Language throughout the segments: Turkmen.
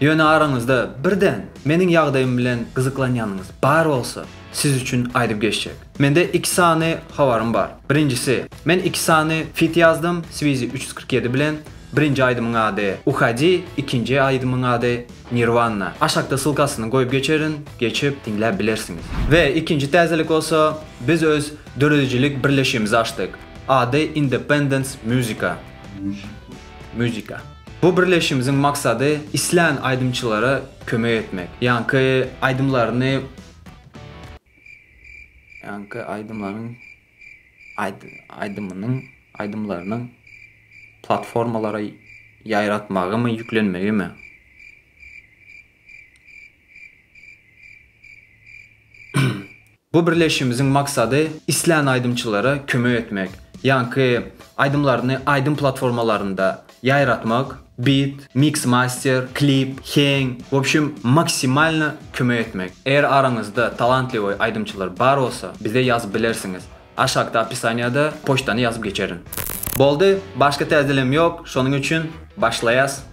Ýöne araňyzda birden meniň ýagdaýym bilen gyzyklanýanyňyz bar bolsa, siz üçin aýdyp geçjek. Mende iki sany habarym bar. Birinjisi, men iki sany fit ýazdym, Swizi üç ýüz kyrk ýedi bilen, birinji aýdymyň ady Uhadi, ikinji aýdymyň ady Nirwanna. Aşakda ssylkasyny goýup geçerin, geçip diňläp bilersiňiz. We ikinji täzelik bolsa, biz öz döredijilik birleşigimizi açdyk. Ady Independence Musica. Musica. Bu birleşigimiziň maksady islän aýdymçylara kömek etmek. Ýaňky aýdymlaryny ýaňky aýdymlaryň aýdymynyň aýdymlarynyň platformalara ýaýratmagymy ýüklenmegimi. Bu birleşişimiziň maksady islän aýdymçylara kömek etmek, ýaňky aýdymlaryny aýdym platformalarynda ýaýratmak, bit, miks master, klip, heň, w obşim maksimalno kömek etmek. Eger araňyzda talantliwoý aýdymçylar bar bolsa, bize ýazyp bilersiňiz, aşakda opisaniýada poçtany ýazyp geçerin. Boldy, başga täzelem ýok, şonuň üçin başlaýas.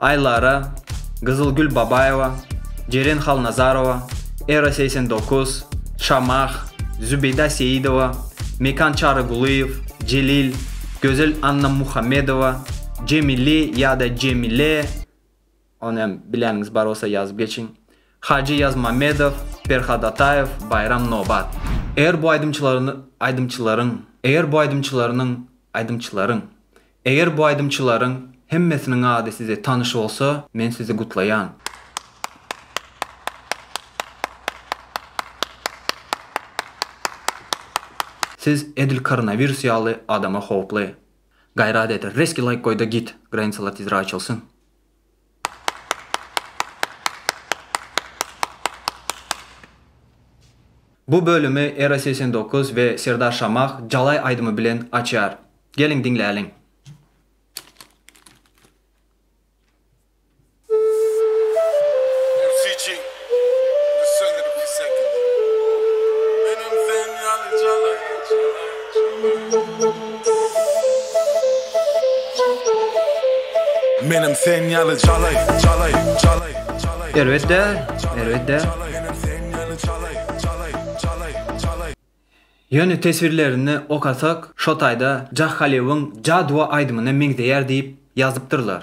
Aýlara, Gyzylgül Babaýewa, Jeren Halnazarowa, Era segsen dokuz, Şamah, Zübeýda Seýidowa, Mekan Çarygulyýew, Jelil, Gözel Annamuhammedowa, Jemili ýa-da Jemile, ony hem bileniňiz bar bolsa ýazyp geçiň, Hajy Ýazmamedow, Perhat Ataýew, Baýram Nobat. Eger bu aýdymçylaryň Eger bu aýdymçylaryň Aýdymçylaryň Eger bu aýdymçylaryň hemmesiniň ady size tanyş bolsa men sizi gutlaýan. Siz edil koronawirus ýaly adama howply. Gaýrat et reski laýk goýda git granicalary tizir açylsyn. Bu bölümi Era segsen dokuz we Serdar Şamah Jalaý aýdymy bilen açýar. Geliň diňläliň. Menem sen ýaly jalaý, jalaý, jalaý, jalaý, Erbet däl, erbet däl. jalaý, Menem sen ýaly jalaý, jalaý, jalaý, jalaý. Ýöne teswirlerini okasak şo taýda Jahhalewiň Jaduwa aýdymyna meňzeýär diýip ýazypdyrlar.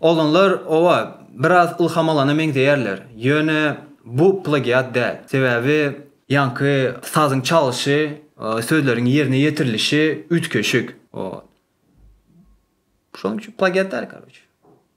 Oglanlar owa biraz ylham alana meňzeýärler, ýöne bu plagiat däl. Sebäbi ýaňky sazyň çalyşy, sözleriň ýerine ýetirilişi üýtgeşik. Şonuň üçin plagiat däl karoç.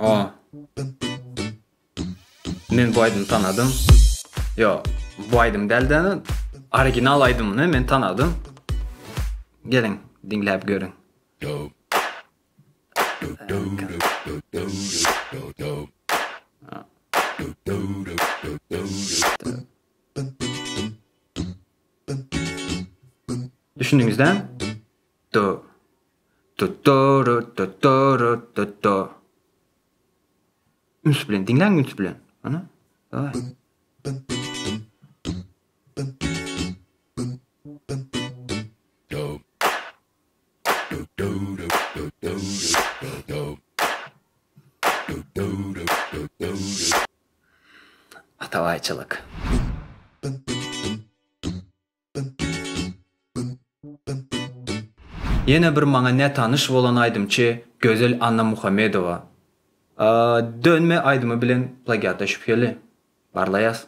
O. Men bu aýdymy tanadym. Yo, bu aýdym däldi. Original aýdymyny men tanadym. Geliň, diňläp görüň. Düşündüňizmi? Do. Do-do-do-do-do-do-do-do. Üns bilen diňläň, üns bilen. Ana. Daway. Atabaýçylyk. Ýene bir maňa nätanyş bolan aýdymçy Gözel Annamuhammedowa. Dönme aýdymy bilen plagiata şübheli. Barlaýas.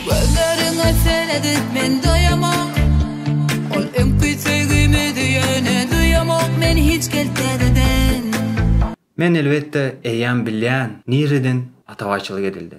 Gözleriňe seredip men doýamok Ol öňki söýgimizi ýöne duýamok men hiç gel täzeden. Men elbetde eýýäm bilýän nireden atabaýçylyk edildi.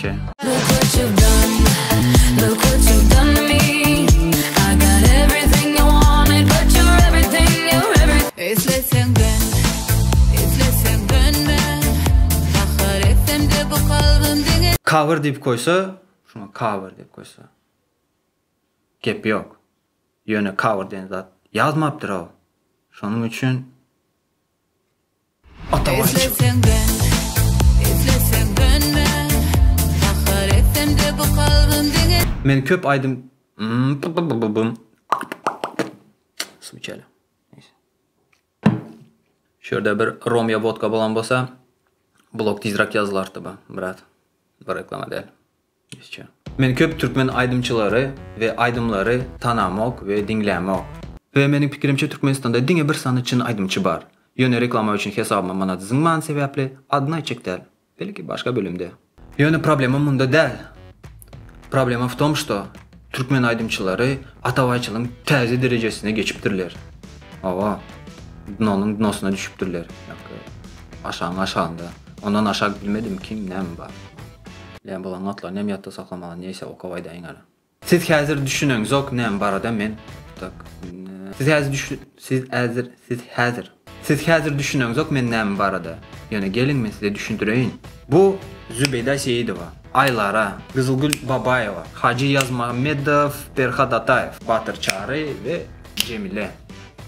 Çe. Cover diýip goýsa, şuňa cover diýip goýsa. Gep ýok. Ýöne cover diýen zat ýazmapdyr-ow. Şonuň üçin Men köp aýdym Suw içeli. Şu ýerde bir rom ya vodka bolan bolsa, blog tizrak ýazylardy bu, brat. Bu reklama däl. Men köp türkmen aýdymçylary we aýdymlary tanamok we diňlämok. We meniň pikirimçe Türkmenistanda diňe bir sany çyn aýdymçy bar. Ýöne reklama üçin hesabyma manat zyňman sebäpli adyny aýtjak däl. Belki başga bölümde. Ýöne problema munda däl. Problema w tom što türkmen aýdymçylary atabaýçylygyň täze derejesine geçipdirler. Hawa. Dnonyň dnosyna düşüpdirler. Ýa-ki aşagyň aşagynda. Ondan aşak bilmedim kim näme bar. Len bolan notlaryny hem ýatda saklamaly neýse okap aýdaýyň hälä. Siz häzir düşüneňzok näme barada men tak Siz häzir düşün siz äzir siz häzir Siz häzir düşüneňzok men näme barada ýöne geliň men size düşündireýin. Bu Zübeýda Seýidowa, Aýlara, Gyzylgül Babaýewa, Hajy Ýazmagmmedow, Perhat Ataýew, Batyr Çary we Jemile.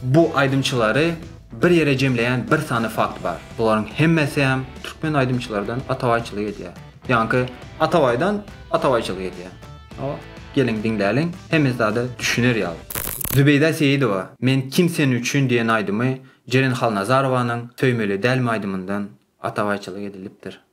Bu aýdymçylary bir ýere jemleýän bir sany fakt bar. Bularyň hemmesem türkmen aýdymçylardan atabaýçylyk edýär. Ýaňky atabaýdan atabaýçylyk edýär. Hawa, geliň diňläliň, hemme zada düşüner ýaly. Zübeýda Seýidowa Men kim sen üçin diýen aýdymy Jeren Halnazarowanyň Söýmeli dälmi aýdymyndan atabaýçylyk edilipdir.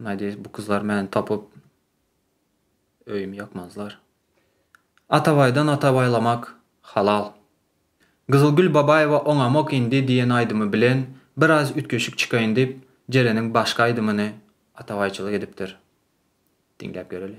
Nadýeş bu gyzlar meni tapyp öýümi ýakmazlar. Atabaýdan atabaýlamak halal. Gyzylgül Babaýewa Oňamok indi diýen aýdymy bilen biraz üýtgeşik çykaýyn diýip Jeleniň başga aýdymyny atabaýçylyk edipdir. Diňläp göreli.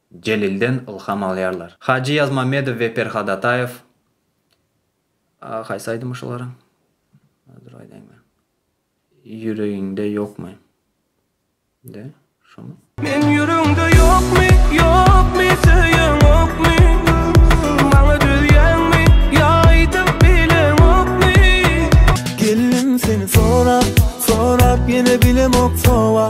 Jelilden ylham alýarlar. Hajy Ýazmamedow we Perhat Ataýew Haýsy aýdymy şularyň? Dur aýdaýyn men. Ýüregiňde ýokmy? De, şomy? Meň ýüregiňde ýokmy, ýokmy, söýeň okmy? Maňa döýýäňmi, ýa aýdyp bileň okmy? Gelnim seni sorap, sorap ýene bilemok sowa.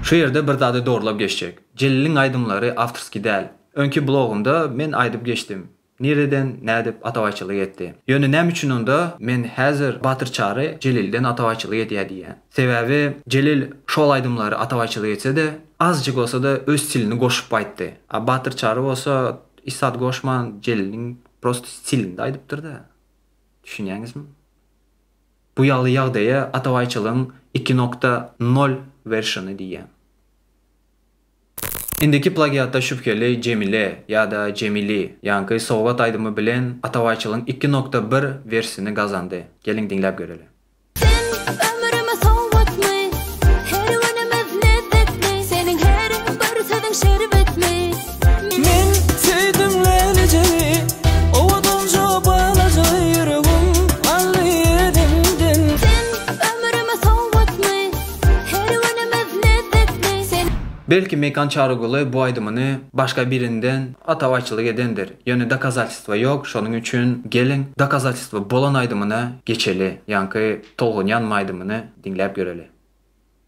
Şu ýerde bir zady zorlap geçjek. Jeliliň aýdymlary awtorskiý däl. Öňki blogunda men aýdyp geçdim. Nireden, nädip atabaýçylyk etdi? Ýöne näme üçin onda men häzir Batyr Çary Jelilden atabaýçylyk edýär diýýän? Sebäbi Jelil şol aýdymlary atabaýçylyk etse-de, azjyk bolsa-da öz stilini goşup aýtdy. A Batyr Çary bolsa hiç zat goşman Jeliliň prosto stilinde aýdypdyr-da. Düşünýäňizmi? Bu ýaly ýagdaýa atabaýçylygyň iki nokta nol wersiony diýýär. Indiki plagiatda şübheli Jemile ýa-da Jemili ýaňky Sogap aýdymy bilen atabaýçylygyň iki nokta bir wersiony gazandy. Geliň diňläp göreliň. Sen ömrüme sowgatmy, her günümiz lezzet mi, seniň her bir sözüň şerbet mi. Men söýdüm lälejegi Owadanjo balaja ýüregim Aldy özüňden Sen ömrüme sowgatmy Her günümiz lezzetli Sen. Belki Mekan Çaryguly bu aýdymyny başga birinden atabaýçylyk edendir, ýöne dokazatelstwa ýok, şonuň üçin geliň dokazatelstwa bolan aýdymyna geçeli, ýaňky tolgunýanma aýdymyny diňläp göreli.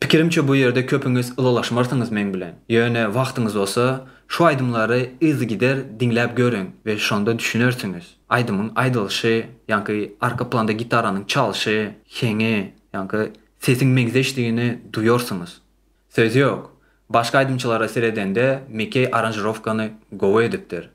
Pikirimçe bu ýerde köpüňiz ylalaşmarsyňyz meň bilen. Ýöne wagtyňyz bolsa, şu aýdymlary yzygider diňläp görüň we şonda düşünersiňiz. Aýdymyň aýdylyşy, ýaňky arka planda gitaranyň çalşy, heňi, ýaňky sesiň meňzeşdigini duýarsyňyz. Söz ýok, başga aýdymçylara seredende Mikeý aranžirowkany gowy edipdir.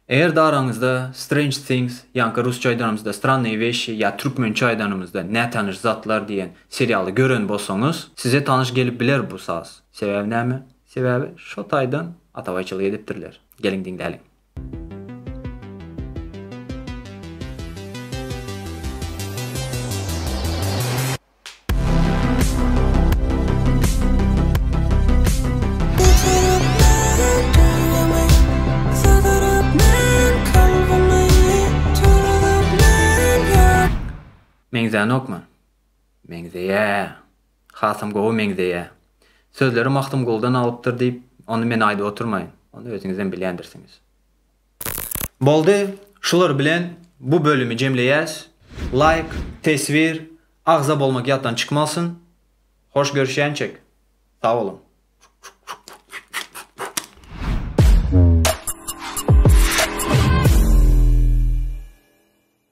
Eger daraňyzda Strange Things, ýaňky rusça aýdanymyzda Strannyye weşşi ýa türkmençe aýdanymyzda Nätanyş zatlar diýen serialy gören bolsaňyz, size tanyş gelip biler bu saz. Sebäbi näme? Sebäbi şo taýdan atabaýçylyk edipdirler. Geliň diňläliň. Meňzänokmy? Meňzeýä. Hasam gowy meňzeýä. Sözleri Magtymguldan alypdyr diýip, ony men aýdyp oturmaýyn. Ony özüňizem bilýändirsiňiz. Boldy, şular bilen bu bölümi jemleýäs. Laýk, teswir, agza bolmak ýatdan çykmasyn. Hoş görüşýänçek. Sag boluň.